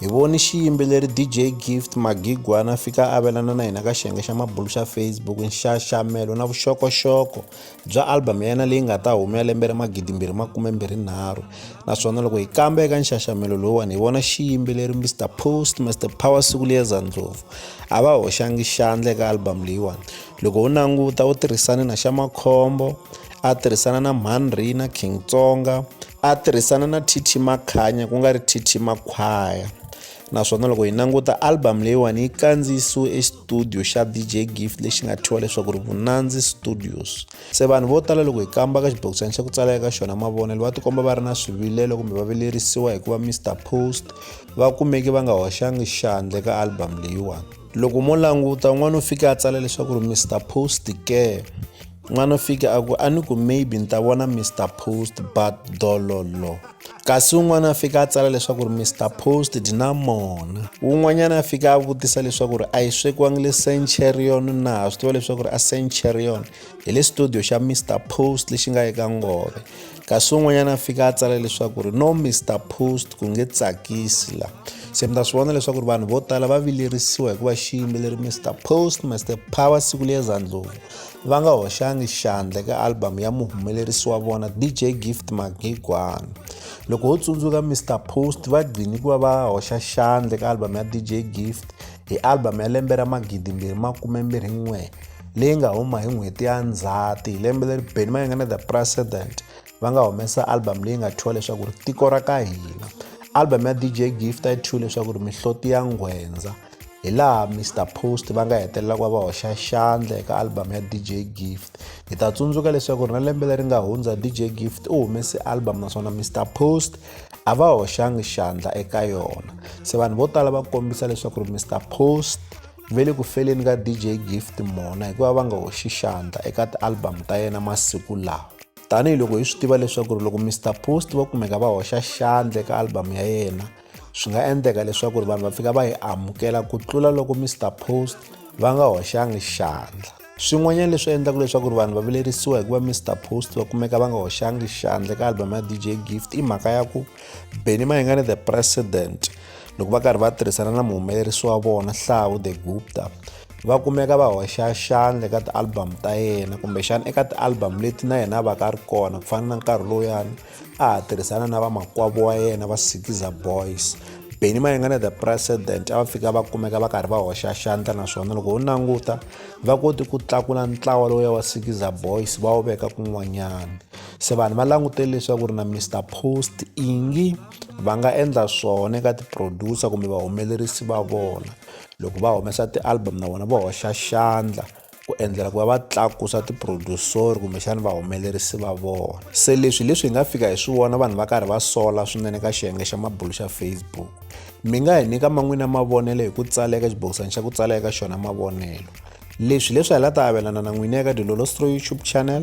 Hi voni xiyimbeleri DJ Gift Magigwana fika avelana na hina ka xiyenge xa mabulu xa Facebook nxaxamelo na vuxokoxoko bya album ya yena leyi nga ta huma ya lembe ra magidimbirhi makume mbirhi nharhu naswona loko hi kamba eka nxaxamelo lowuwani hi vona xiyimbeleri Mr Post Mr Power siku liyeza ndlopfu a va hoxangi xandla eka album leyiwani loko u languta u tirhisane na xa makhombo a tirhisana na mhanri na King Tsonga a tirhisana na TT Makhanya ku nga ri TT Makhwaya naswona loko hi languta album leyiwani yi kandziyisiwe exitudiyo xa DJ Gift lexi nga thyiwa leswaku ri Vunandzi Studios se vanhu vo tala loko hi kamba ka xibokisana xa ku tsala eka xona mavonelo va tikomba va ri na swivilelo kumbe va vilerisiwa hikuva Mr Post va kumeke va nga hoxangi xandle ka album leyiwani loko mo languta un'wana u fike a tsala leswaku ri Mr Post care N'wana Fika a ku a ni ku maybe ni ta vona Mr Post but dololo kasi un'wana a fika a tsala leswaku ri Mr Post di na mona un'wanyana a fika a vutisa leswaku ri a yi swekiwangi le Centurion na ha swi tiva leswaku ri a Centurion hi le studio xa Mr Post lexi nga eka ngove kasi un'wanyana a fika a tsala leswaku ri no Mr Post ku nge tsakisi la se mi ta swi vona leswaku ri vanhu vo tala va vilerisiwa hikuva xiyimbeleri Mr Post Mr Power siku liyeza ndlulu va nga hoxangi xandla eka album ya muhumelerisi wa vona dj gift magigwana loko ho tsundzuka mr post va gcini ku va va hoxa xandla eka album ya dj gift hi album ya lembe ra magidi mbirhi makume mbirhi n'we leyi nga huma hi n'hweti ya ndzhati hi lembe leri beni mayanga na the president va nga humesa album leyi nga thyiwa leswaku ri tiko ra ka hina album ya dj gift a yi thyiwe leswaku ri mihloti ya nghwendza hi laha mr post va nga hetelela ku va va hoxa xandla eka album ya dj gift hi ta tsundzuka leswaku ri na lembe leri nga hundza dj gift u humese album naswona mr post a va hoxangi xandla eka yona se vanhu vo tala va kombisa leswaku ri mr post ve le ku feleni ka dj gift mona hikuva va nga hoxi xandla eka ti-album ta yena masiku lawa tanihiloko hi swi tiva leswaku ri loko mr post va kumeka va hoxa xandla eka album ya yena swi nga endleka leswaku ri vanhu va fika va yi amukela ku tlula loko mr post va nga hoxangi xandla swin'wanyana leswi endlaka leswaku ri vanhu va vilerisiwa hikuva mr post va kumeka va nga hoxangi xandla eka album ya dj gift i mhaka ya ku benny mayengane the president loko va karhi va tirhisana na muhumelerisi wa vona hlawu the gupta va kumeka va hoxa xandla eka ti-album ta yena kumbexana eka ti-album leti na yena a va ka a ri kona ku fana na nkarhi lowuyani a ha tirhisana na vamakwavo wa yena va sikiza boys beni mayengana the president a va fika va kumeka va karhi va hoxa xandla naswona loko ho languta va koti ku tlakula ntlawa lowu ya wa sikiza boys va wu veka kun'wanyana se vanhu va langutele leswaku ri na mr post ingi va nga endla swona eka ti-producer kumbe vahumelerisi va vona loko va humesa ti-album na vona va hoxa xandla ku endlela ku va va tlakusa tiprodusori kumbexana vahumelerisi va vona se leswi hi leswi hi nga fika hi swi vona vanhu va karhi va sola swinene ka xiyenge xa mabulu xa facebook mi nga hi nyika man'wini ya mavonelo hi ku tsala eka xibokisana xa ku tsala eka xona mavonelo leswi leswi hi la ta avelana na n'wini eka dilolostro youtube channel